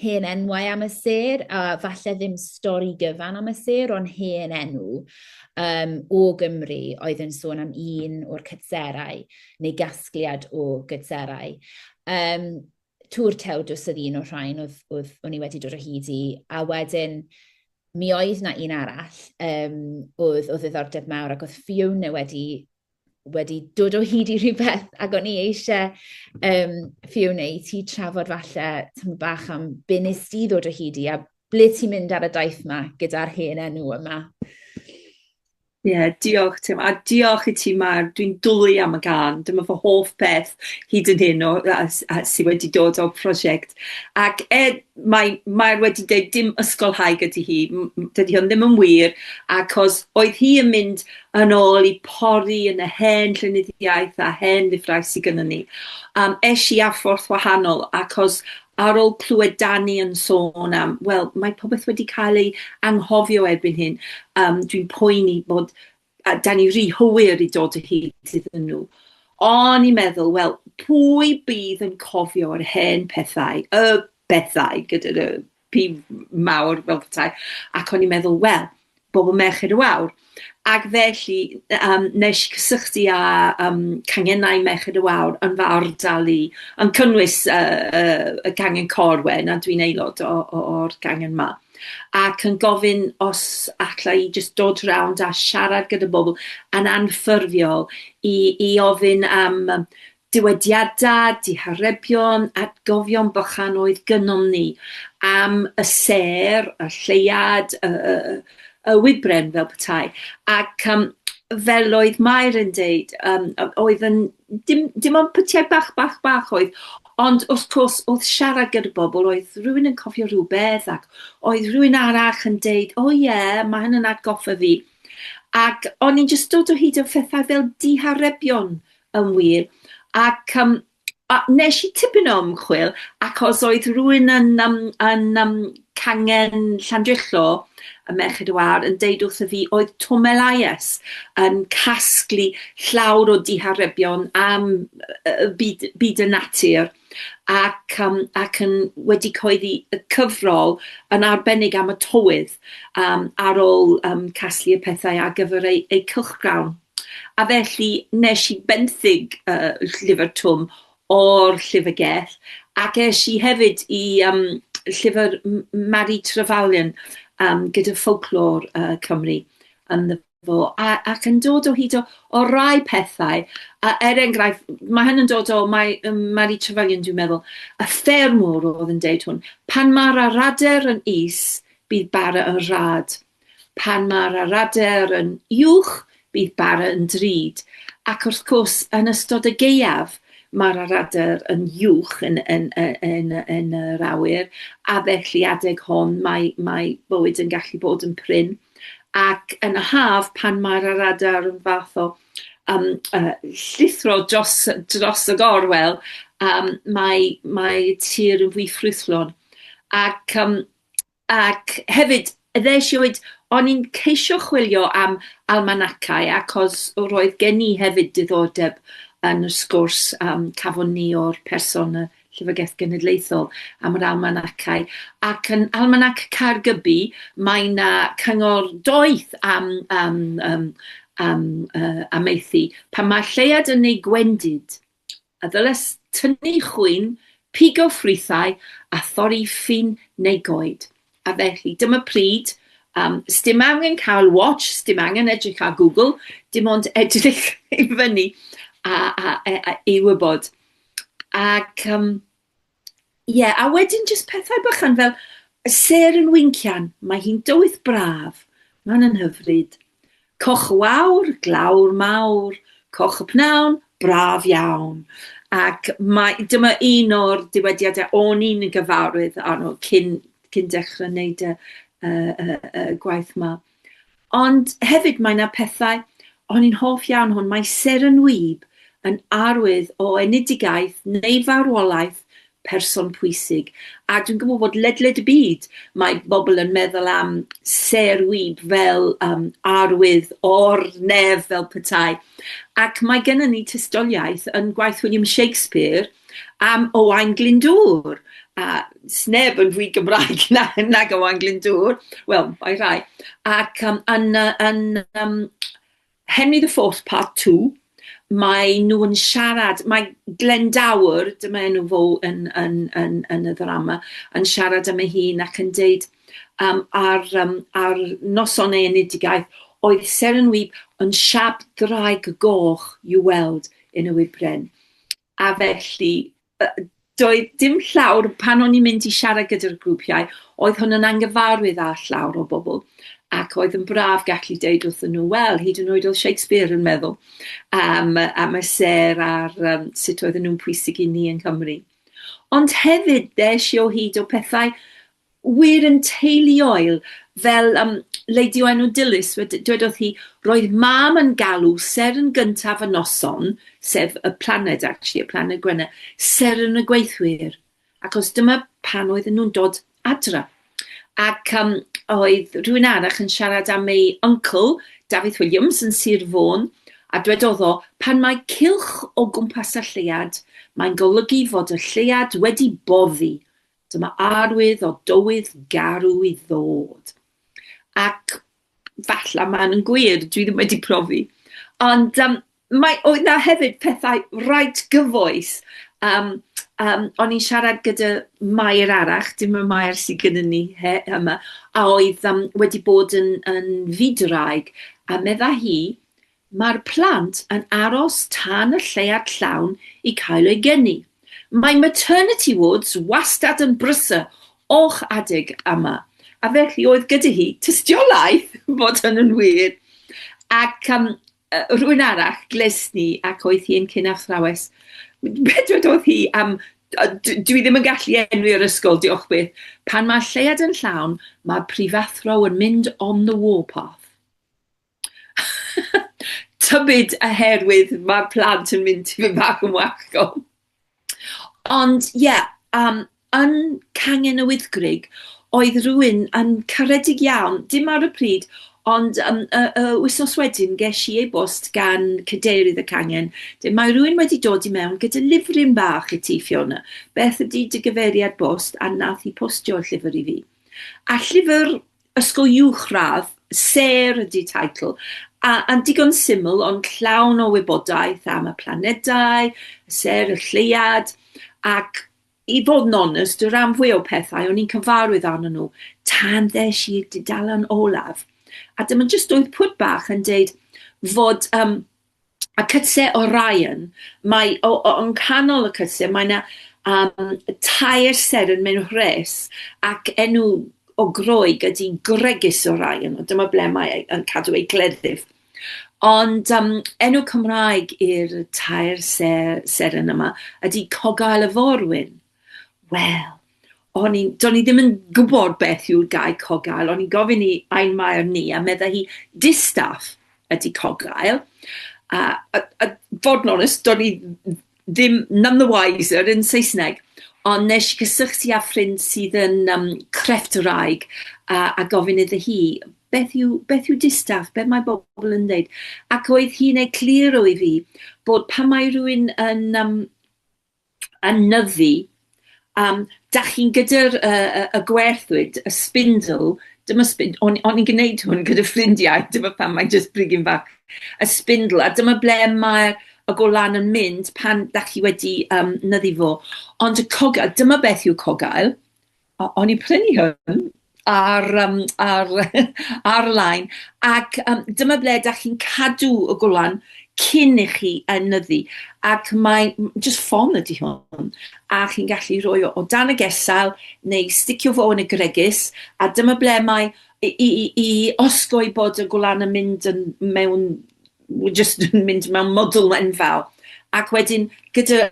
hen enwau am y sêr, a falle ddim stori gyfan am y sêr, ond hen enw um, o Gymru oedd yn sôn am un o'r cytserau, neu gasgliad o gytserau. Um, Tŵr Tewdws oedd un o'r rhain oedd, oedd o'n i wedi dod o hyd i, a wedyn mi oedd na un arall um, oedd o ddiddordeb mawr ac oedd Fiona wedi wedi dod o hyd i rhywbeth ac o'n i eisiau um, Fiona i ti trafod falle tymor bach am be nes di ddod o hyd i a ble ti'n mynd ar y daith yma gyda'r hen enw yma. Ie, yeah, diolch Tim, a diolch i ti Mar, dwi'n dwlu am y gan, dyma fy hoff beth hyd yn hyn o, a, a sydd wedi dod o'r prosiect. Ac er, mae Mair wedi dweud dim ysgolhaig ydy hi, dydy hwn ddim yn wir, ac os oedd hi yn mynd yn ôl i pori yn y hen llenyddiaeth a hen lyfrau sy gynnon ni. Um, esh i ar ffordd wahanol, acos ar ôl clywed Dani yn sôn am, wel, mae popeth wedi cael ei anghofio erbyn hyn, um, dwi'n poeni bod a da ni rhy hwyr i dod o hyd iddyn nhw. O'n i'n meddwl, wel, pwy bydd yn cofio'r hen pethau, y bethau gyda nhw? pi mawr fel petai, ac o'n i'n meddwl, wel, bobl merched y wawr. Ac felly, um, nes i cysylltu â um, cangenau merched y wawr yn fy ardal i, yn cynnwys uh, uh, y cangen Corwen, a dwi'n aelod o'r cangen yma ac yn gofyn os allai i jyst dod rownd a siarad gyda bobl yn anffurfiol i, i ofyn am Dywediadau, diharebion, atgofion bychan oedd gynnom ni am y sêr, y lleuad, y, y, y, y wybren fel petai. Ac um, fel oedd Mair yn deud, um, oedd yn, dim, dim ond pytiau bach, bach, bach oedd, ond wrth gwrs oedd siarad gyda bobl, oedd rhywun yn cofio rhywbeth ac oedd rhywun arall yn deud, o oh, ie, yeah, mae hyn yn atgoffa fi. Ac o'n i'n just dod o hyd o phethau fel diharebion Yn wir. Ac um, a nes i tipyn o ymchwil, ac os oedd rhywun yn, um, yn um, cangen Llandrillo, y Merched y Wawr, yn deud wrth y fi, oedd Tom Elias yn casglu llawr o diharebion am uh, byd, byd y natur ac, um, ac yn wedi coeddi y cyfrol yn arbennig am y tywydd um, ar ôl um, casglu y pethau ar gyfer ei, ei cylchgrawn. A felly nes i benthyg yy llyfr Twm o'r llyfrgell ac es i hefyd i yym llyfr M- M- Mari Trevelyan yym gyda ffolclor yy Cymru ynddo fo a ac yn dod o hyd o o rai pethau a er enghraifft ma' hyn yn dod o mae yym Mari Trevelyan dwi'n meddwl y ffermwr o'dd yn deud hwn, pan ma'r aradur yn is bydd bara yn rhad. Pan mae'r aradaer yn uwch, bydd bara yn drud, ac wrth cwrs, yn ystod y gaeaf, mae'r aradaer yn uwch yn, yn, yn, yn yr awyr, a felly adeg hon mae, mae bywyd yn gallu bod yn prin. Ac yn y haf, pan mae'r aradaer yn fath o um, uh, llithro dros, dros y gorwel, um, mae, mae tir yn fwy ffrwythlon. Ac um, Ac hefyd, ddes i o hyd, o'n i'n ceisio chwilio am almanacau, achos roedd gen i hefyd diddordeb yn y sgwrs yym cafon ni o'r person y Llyfrgell Genedlaethol am yr almanacau, ac yn Almanac Caergybi mae 'na cyngor doeth am yym yym am yy amaethu, pan mae'r lleuad yn ei gwendid. a ddylent tynnu chwyn, pigo ffrwythau a thorri ffyn neu goed. A felly, dyma pryd, um, sdim angen cael watch, sdim angen edrych ar Google, dim ond edrych i fyny a, a, a, a i wybod. Ac um, Ie, a wedyn jyst pethau bychan fel y ser yn wincian, mae hi'n dywydd braf, mae'n yn hyfryd. Coch y wawr, glawr mawr, coch y pnawn, braf iawn. Ac mae, dyma un o'r diwydiadau o'n i'n gyfarwydd arno cyn, cyn dechrau wneud y, y, y, y gwaith mae. Ond hefyd mae 'na pethau, o'n i'n hoff iawn hwn, mae Seren Wib yn arwydd o enedigaeth neu farwolaeth person pwysig. A dwi'n gwybod bod ledled y byd mae bobl yn meddwl am Ser Wib fel um, arwydd o'r nef fel petai. Ac mae gennym ni tystiolaeth yn gwaith William Shakespeare am Owain Glyndŵr, a sneb yn fwy Gymraeg na, nag Owain Glyndŵr, wel, mae rhai, ac um, yn, yn um, Henry the Fourth Part 2, mae nhw yn siarad, mae Glendower, dyma enw fo yn, yn, yn, yn y ddrama, yn siarad am ei hun ac yn deud um, ar, um, ar noson ei enedigaeth, oedd Seren Wyb yn siap draig goch i'w weld yn y wybren. A felly, doedd dim llawr, pan o'n i'n mynd i siarad gyda'r grwpiau, oedd hwn yn angyfarwydd â llawr o bobl, ac oedd yn braf gallu deud wrthyn nhw, wel, hyd yn oed oedd Shakespeare yn meddwl am, am y sêr a'r um, sut oedden nhw'n pwysig i ni yng Nghymru. Ond hefyd, ddes i o hyd o pethau wir yn teuluoel, fel um, Lady o enw Dilys, dwedodd hi, roedd mam yn galw ser yn gyntaf y noson, sef y planed, actually, y planed Gwenna, ser yn y gweithwyr, ac os dyma pan oedden nhw'n dod adra. Ac um, oedd rhywun arach yn siarad am ei uncle, Dafydd Williams, yn Sir Fôn, a dwedodd o, pan mae cilch o gwmpas y llead, mae'n golygu fod y llead wedi boddi, Dyma arwydd o dywydd garw i ddod. Ac falle mae'n yn gwir, dwi ddim wedi profi. Ond um, mae, oedd na hefyd pethau rhaid gyfoes. Um, um, o'n i'n siarad gyda Mair arach, dim y Mair sydd gyda ni he, yma, a oedd um, wedi bod yn, yn fyd-raig, a medda hi, Mae'r plant yn aros tan y lleuad llawn i cael eu geni. Mae maternity wards wastad yn brysur o'ch adeg yma, a felly oedd gyda hi tystiolaeth fod hynny'n wir. Ac um, rhywun arall gles ni ac oedd hi'n cyn athrawes. Be dwedodd hi am dwi ddim yn gallu enwi yr ysgol, diolch byth. Pan mae lleuad yn llawn, mae prifathro yn mynd on the warpath. tybid oherwydd ma'r plant yn mynd tipyn bach yn wallgo! Ond ie, yym, yn Cangen y Wyddgrug, oedd rywun yn caredig iawn, dim ar y pryd, ond yym y y wythnos wedyn gesh i e-bost gan cadeirydd y cangen, deu' mae rywun wedi dod i mewn gyda lifryn bach i ti Fiona, beth ydi dy gyfeiriad bost, a nath hi postio'r llyfyr i fi. A llyfyr Ysgol Uwchradd, sêr ydy teitl, a, a'n digon syml ond llawn o wybodaeth am y planedau, y sêr, y lleuad, ac i fod yn onest, y rhan fwy o pethau o'n i'n cyfarwydd arnyn nhw tan ddes i'r dudalen olaf. A dyma jyst oedd pwt bach yn deud fod um, a cytse o Ryan, mae o o yng nghanol y cytse mae 'na yym tair seren mewn rhes, ac enw o Groeg ydi Gregis o Ryan, a dyma ble mae ei yn cadw ei gleddyf. Ond yym enw Cymraeg i'r tair se- seren yma ydi Cogail y Forwyn. Wel, o'n i'n, do'n i ddim yn gwybod beth yw'r gair cogael, o'n i'n gofyn i ein maer ni, a medda hi, distaff ydy cogael. A, a, a fod yn onest, do'n i ddim none the wiser yn Saesneg, ond nes i gysylltu â ffrind sydd yn um, crefft yr aig, a, a gofyn iddo hi, beth yw, beth yw distaff, beth mae bobl yn dweud. Ac oedd hi'n egluro i fi bod pan mae rhywun yn um, yn nyddu yym dach chi'n gyda'r y y y gwerthwyd y spindle dyma sbind- o'n o'n i'n gneud hwn gyda ffrindiau dyma pam mae'n jyst brigyn bach y spindle a dyma ble mae'r y golan yn mynd pan dach chi wedi yym nyddu fo ond y cogyl dyma beth yw cogaul o- o'n i'n prynu hwn ar yym ar ar-lein ac yym dyma ble 'dach chi'n cadw y gwlan cyn i chi enyddu ac mae m- jyst ffon ydi hwn a chi'n gallu rhoi o o dan y gesail neu sticio fo yn y gwregus a dyma ble mae i i i i osgoi bod y gwlan yn mynd yn mewn w- jyst yn mynd mewn mwdl enfawr ac wedyn gyda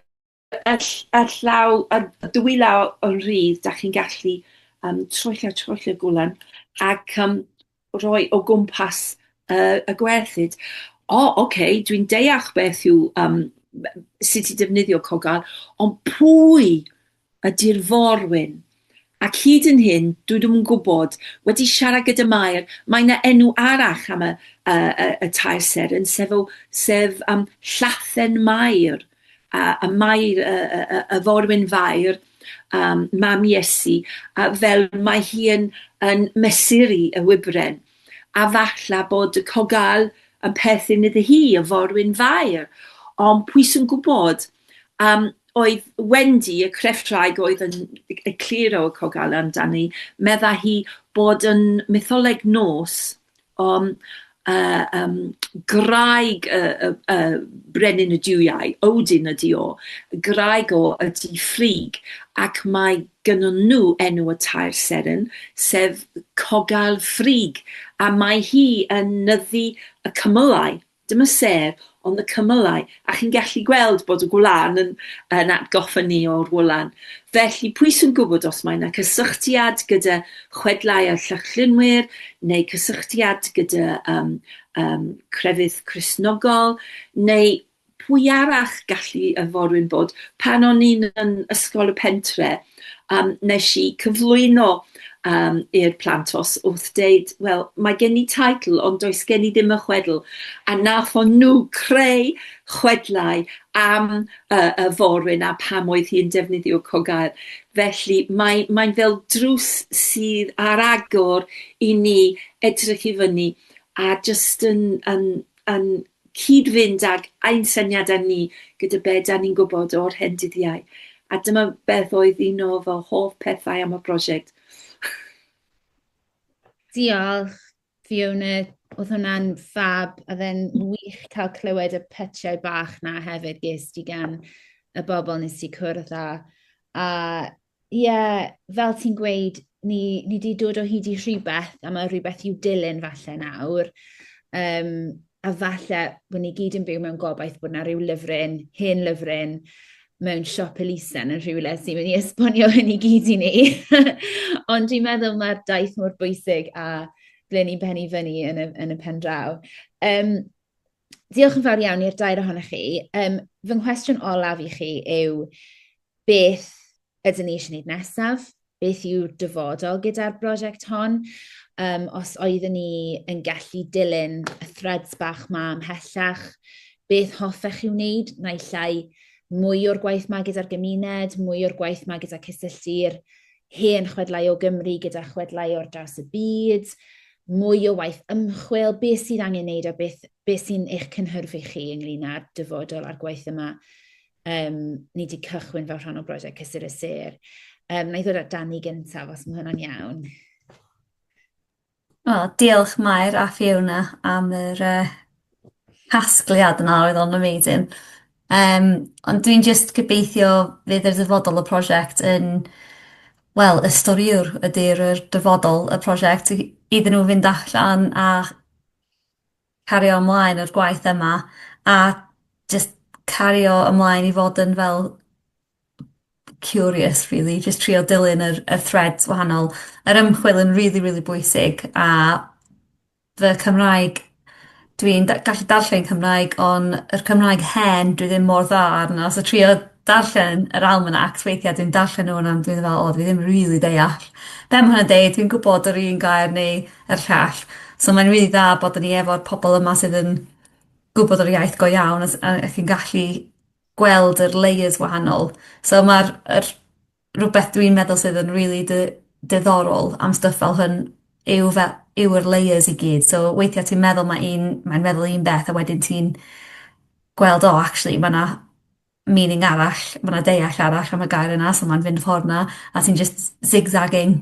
Ar, ar llaw, ar dwy law o'n rhydd, da chi'n gallu um, troello, troello gwlan ac um, roi o gwmpas uh, y gwerthyd. O, oh, oce, okay, dwi'n deall beth yw um, sut i defnyddio cogal, ond pwy ydy'r forwyn? Ac hyd yn hyn, dwi ddim yn gwybod, wedi siarad gyda Mair, mae yna enw arall am y, y, y, y tair seren, sef, o, sef um, Llathen Mair, a, a Mair, y, y, y, y forwyn fair, um, mam Iesu, a fel mae hi yn, yn mesuri y wybren. A falla bod y cogal yn perthyn iddi hi, y forwyn fair. Ond pwy sy'n gwybod? Um, oedd Wendy, y crefftwraig oedd yn egluro y Cogale amdani, medda hi bod yn mytholeg nos um, uh, um, graig y, y, y brenin y diwiau, Odin ydi o, graig o ydi ffrig, ac mae gynnyn nhw enw y tair seren, sef Cogal Ffrig, a mae hi yn nyddu y cymylau Dyma sef ond y cymylau, a chi'n gallu gweld bod y gwlân yn, yn atgoffa ni o'r wlan. Felly, pwy sy'n gwybod os mae yna cysylltiad gyda chwedlau'r Llychlynwyr, neu cysylltiad gyda um, um, crefydd Cresnogol, neu pwy arall gallu y forwyn bod pan o'n i'n yn ysgol y pentre, um, nes i cyflwyno um, i'r plant os wrth deud, wel, mae gen i taitl, ond does gen i ddim y chwedl. A nath o'n nhw creu chwedlau am uh, y forwyn a pam oedd hi'n defnyddio cogael. Felly mae'n mae fel drws sydd ar agor i ni edrych i fyny a jyst yn, yn yn cyd-fynd ag ein syniadau ni gyda be dan ni'n gwybod o'r hen dyddiau. A dyma beth oedd un o fy hoff pethau am y prosiect. Diolch, Fiona. Oedd hwnna'n fab, a fe'n wych cael clywed y pytiau bach na hefyd ges di gan y bobl nes ti cwrdd â. A Ie, fel ti'n gweud, ni ni 'di dod o hyd i rhywbeth, a mae rhywbeth i'w dilyn falle nawr. Um, a falle bod ni gyd yn byw mewn gobaith bod yna rhyw lyfryn, hen lyfryn, mewn siop elusen yn rhywle sy'n mynd i esbonio hyn i gyd i ni. Ond dwi'n meddwl mae'r daith mor bwysig a ble ni'n pennu fyny yn y, yn y pen draw. Um, diolch yn fawr iawn i'r dair ohonych chi. Um, fy nghwestiwn olaf i chi yw, beth ydyn ni eisiau gwneud nesaf, beth yw'r dyfodol gyda'r brosiect hon. Um, os oeddwn ni yn gallu dilyn y threads bach ma ymhellach, beth hoffech chi wneud, naill llai mwy o'r gwaith ma gyda'r gymuned, mwy o'r gwaith ma gyda cysylltu'r hen chwedlau o Gymru gyda chwedlau o'r draws y byd, mwy o waith ymchwil, beth sydd angen wneud a beth, beth sy'n eich cynhyrfu chi ynglyn â'r dyfodol a'r gwaith yma Um, ni wedi cychwyn fel rhan o brosiect Cysur y Sir. Um, na i ddod at Dani gyntaf, os mae hwnna'n iawn. O, diolch Mair a Fiona am yr uh, casgliad yna, oedd o'n amazing. Um, ond dwi'n just gobeithio fydd yr ddyfodol y prosiect yn wel, y storiwr ydy'r dyfodol y prosiect iddyn nhw fynd allan a cario ymlaen â'r gwaith yma a jyst cario ymlaen i fod yn fel curious rili jyst trio dilyn yr y threads wahanol. Yr ymchwil yn rili rili bwysig a fy Cymraeg dwi'n da- gallu darllen Cymraeg on' yr Cymraeg hen dwi ddim mor dda arno so trio darllen yr almanacs weithia' dwi'n darllen nw a dwi me'wl o dwi ddim rili deall be' ma' hwnna'n deud dwi'n gwbod yr un gair neu a'r llall. So mae'n rili dda bod 'da ni efo'r pobol yma sydd yn gwbod yr iaith go iawn a s- a ac yn gallu gweld yr layers wahanol. So ma'r yr rwbeth dwi'n meddwl sydd yn rili dy- diddorol am stwff fel hwn yw fe- yw yr layers i gyd so weithia' ti'n meddwl ma' un mae'n meddwl un beth a wedyn ti'n gweld o actually ma' 'na meaning arall, ma' 'na deall arall am y gair yna so ma'n fynd y ffordd 'na a ti'n jyst zig-zagging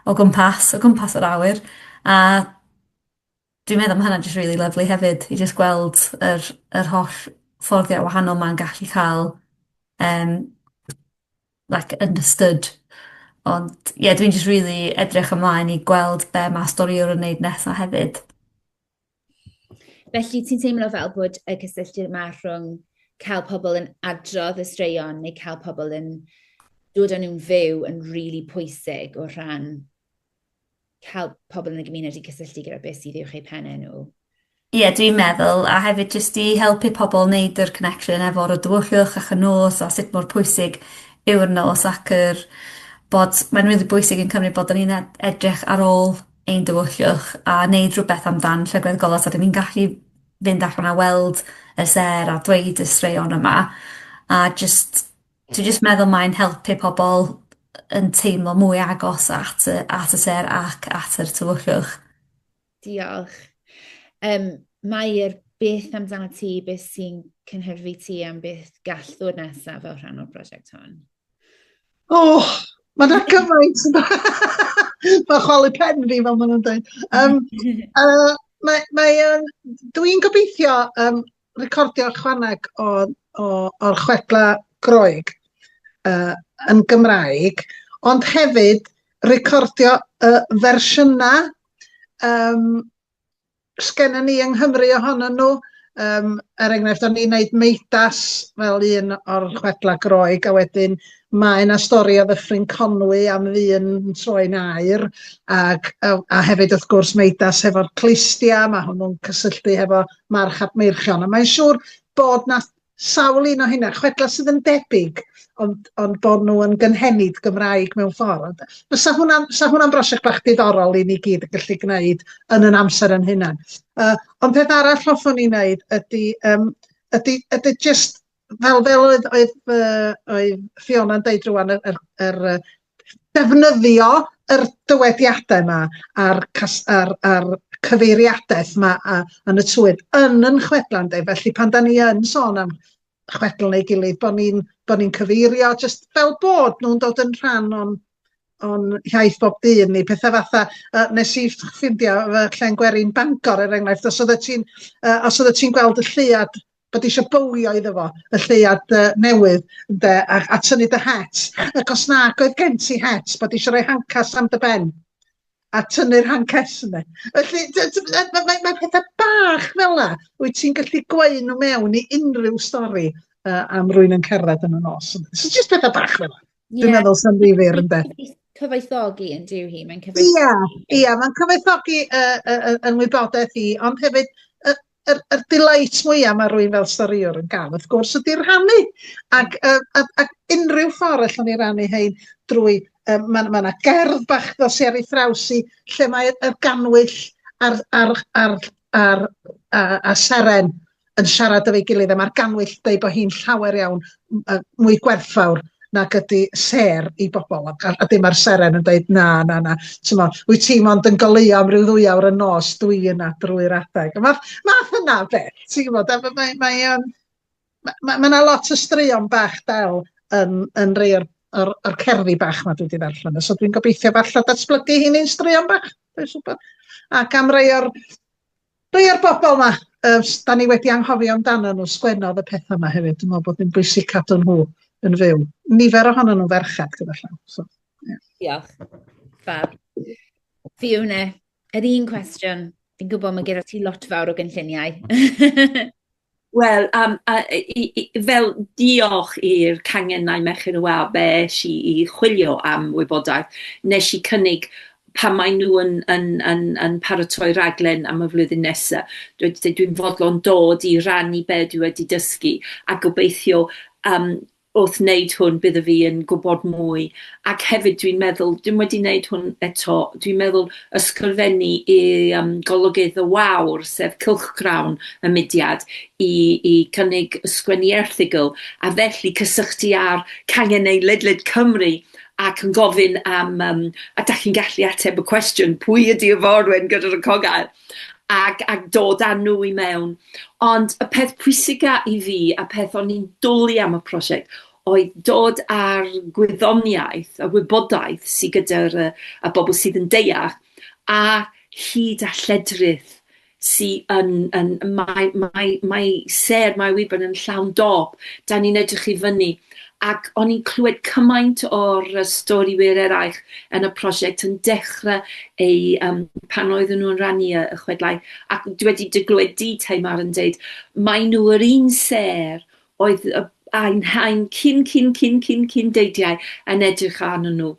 o gwmpas o gwmpas yr awyr a dwi'n meddwl ma' hwnna'n jyst rili lyfli hefyd i jyst gweld yr yr holl fforddiau wahanol 'ma'n gallu ca'l yym like understood ond ie dwi'n jyst rili edrych ymlaen i gweld be' ma' storïwr yn neud nesa hefyd. Felly, ti'n teimlo fel bod y cysylltu yma rhwng cael pobl yn adrodd y straeon neu cael pobl yn dod o'n nhw'n fyw yn rili really pwysig o rhan cael pobl yn y gymuned i cysylltu gyda beth sydd i'w chei pennau nhw. Ie, yeah, dwi'n meddwl, a hefyd jyst i helpu pobl wneud yr connection efo'r o dywyllwch ac y nos a sut mor pwysig yw'r nos ac yr bod, mae'n rili really bwysig yn Cymru bod ni'n edrych ar ôl ein diwylliwch a neud rhywbeth amdan llygad golau so 'dyn ni'n gallu fynd allan a weld y sêr a dweud y straeon yma a jyst dwi jyst meddwl mae'n helpu pobol yn teimlo mwy agos at y at y sêr ac at yr tywyllwch. Diolch. Um, Mae'r beth amdano ti, beth sy'n cynhyrfu ti am beth gall ddod nesaf fel rhan o'r prosiect hon? O! Ma' 'na gymaint yn ma' chwalu pen fi fel ma' nw'n deud. Yym yy mae mae o'n dwi'n gobeithio yym recordio chwaneg o o o'r chwedla Groeg yy yn Gymraeg ond hefyd recordio y fersiynau yym sgenna ni yng Nghymru ohonyn nhw. Um, er enghraifft, o'n i'n neud meidas fel un o'r chwedla groeg, a wedyn mae yna stori o ddyffryn Conwy am ddyn yn troi'n air, ac, a, a hefyd wrth gwrs meidas hefo'r clistia, mae hwnnw'n cysylltu hefo march Meirchion, a mae'n siŵr bod na sawl un o hynna, chwedlau sydd yn debyg ond, ond bod nhw yn gynhenid Gymraeg mewn ffordd. Fysa hwnna'n fysa hwnna'n brosiect bach diddorol i ni gyd yn gallu gwneud yn yn amser yn hunan. Uh, ond peth arall hoffwn i wneud ydy, um, ydy, ydy just fel fel oedd oedd, uh, oedd Fiona'n deud rwan yr, yr, yr defnyddio yr dywediadau 'ma a'r cas- a'r a'r cyfeiriadaeth 'ma a yn y twydd yn 'yn chwedla ynde felly pan 'dan ni yn sôn am chwedl neu gilydd bo' ni'n bo' ni'n cyfeirio jyst fel bod nhw'n dod yn rhan o'n o'n hiaith bob dydd ni petha fatha yy nes i ff- ffindio fy llen gwerin Bangor er enghraifft os oeddet ti'n yy os oeddet ti'n gweld y lleuad bod eisiau bowlio iddo fo, y lleuad uh, newydd, ynde, a, a tynnu dy het. Ac os na, oedd gen ti het, bod eisiau rhoi hancas am dy ben a tynnu'r hancas yna. Felly, mae ma, ma pethau bach fel la, wyt ti'n gallu gweud nhw mewn i unrhyw stori uh, am rwy'n yn cerdded yn y nos. So, just pethau bach fel la. Dwi'n yeah. meddwl sy'n ddifir yn beth. Cyfoethogi yn diw hi, mae'n cyfoethogi. Ia, ia, mae'n cyfoethogi uh, uh, yn wybodaeth i, ond hefyd yr yr delight mwya ma' rywun fel storïwr yn ga'l wrth gwrs ydi rhannu ac yy a a unrhyw ffor allwn ni rannu hein drwy yy ma' ma' 'na gerdd bach dos i ar ei thraws hi lle mae y gannwyll a'r a'r a'r a'r a a seren yn siarad efo'i gilydd a ma'r gannwyll deu bo hi'n llawer iawn yy mwy gwerthfawr nag ydi sêr i bobl a a a dim a'r seren yn deud na na na t'mo' wyt ti mond yn goleuo am ryw ddwy awr y nos dwi yna drwy'r adeg a math math yna o beth ti'n gwbod a ma' mae mae yym ma' ma' ma' 'na lot o straeon bach del yn yn rei o'r o'r o'r cerddi bach 'ma dwi 'di ddarllen o so dwi'n gobeithio falla datblygu 'heini'n straeon bach dwi'n siŵr bod ac am rei o'r Rhei o'r bobl 'ma yy s- 'dan ni wedi anghofio amdanyn nhw, sgwennodd y petha 'ma hefyd, dwi'n meddwl bod hi'n bwysig cadw nhw yn fyw. Nifer ohonyn nhw'n ferched gyda llaw, so ie. Diolch. Fab. Fiona, yr un cwestiwn. Fi'n gwybod mae gyda ti lot fawr o gynlluniau. Wel, am- a- i- i- i- fel diolch i'r cangennau Merched y Wawr fe es i i chwilio am wybodaeth. Nes i cynnig pan mae nhw yn yn yn yn paratoi raglen am y flwyddyn nesa, dwi 'di deud dwi'n fodlon dod i rannu be' dwi wedi dysgu, a gobeithio yym wrth wneud hwn bydda fi yn gwybod mwy, ac hefyd dwi'n meddwl, dwi'm wedi neud hwn eto, dwi'n meddwl ysgrifennu i yym Golygydd y Wawr, sef cylchgrawn y mudiad, i i cynnig ysgrifennu erthygl, a felly cysylltu â'r canghennau ledled Cymru ac yn gofyn am yym a 'dach chi'n gallu ateb y cwestiwn pwy ydi Iforwen gyda'r y cogaer? ac ac dod â nhw i mewn. Ond y peth pwysica i fi, a peth o'n i'n dwli am y prosiect, oedd dod â'r gwyddoniaeth, y wybodaeth sydd gyda'r yy y bobl sydd yn deall, a hyd a lledrith sy yn yn mae mae mae sêr Mair Wynford yn llawn dop, 'dan ni'n edrych i fyny ac o'n i'n clywed cymaint o'r yy stori wir eraill yn y prosiect yn dechre eu yym pan oedden nhw'n rannu y y chwedlau, ac dwi wedi dy glywed di Tamar yn deud mae nhw yr un sêr oedd y ein haen cyn cyn cyn cyn cyn deidiau yn edrych arnyn nhw,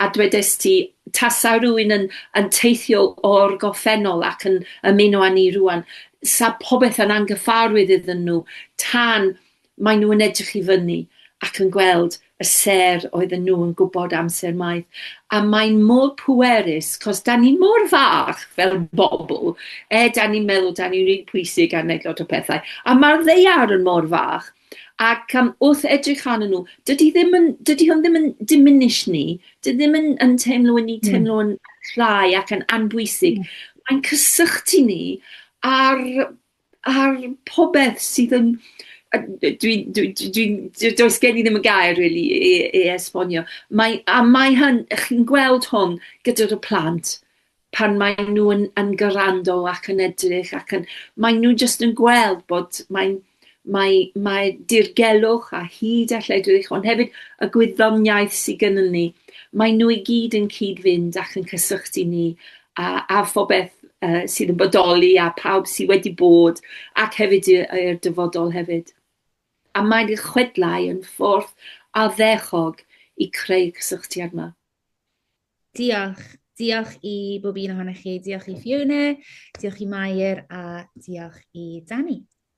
a dwedes ti tasa rywun yn yn teithio o'r goffennol ac yn ymuno â ni rŵan, 'sa popeth yn anghyffarwydd iddyn nhw tan Maen nhw yn edrych i fyny ac yn gweld y sêr oedden nhw yn gwybod amser maith. A mae'n mor pwerus, cos da ni mor fach fel bobl, e, da ni'n meddwl da ni'n rili pwysig a wneud lot o pethau, a mae'r ddaear yn mor fach, ac um, wrth edrych arnyn nhw, dydy, ddim yn, dydy hwn ddim yn diminish ni, dydy ddim yn, yn teimlo yn ni hmm. teimlo yn llai ac yn anbwysig. Mm. Mae'n cysylltu ni ar ar popeth sydd yn a d- dwi'n dwi dwi dwi'n d- does gen i ddim y gair rili i i i esbonio. Mae a mae hyn chi'n gweld hwn gyda dy plant pan mae nw yn yn grando ac yn edrych ac yn mae nw jyst yn gweld bod mae'n mae mae dirgelwch a hud a lledrith ond hefyd y gwyddoniaeth sy gynnon ni, mae nw i gyd yn cyd-fynd ac yn cysylltu ni a a phobeth yy sydd yn bodoli a pawb sydd wedi bod ac hefyd y y i'r dyfodol hefyd. A mae'n eich chwedlau yn ffordd addechog i creu cysylltiad 'ma. Diolch. Diolch i bob un ohonoch chi. Diolch i Fiona, diolch i Mair a diolch i Danny.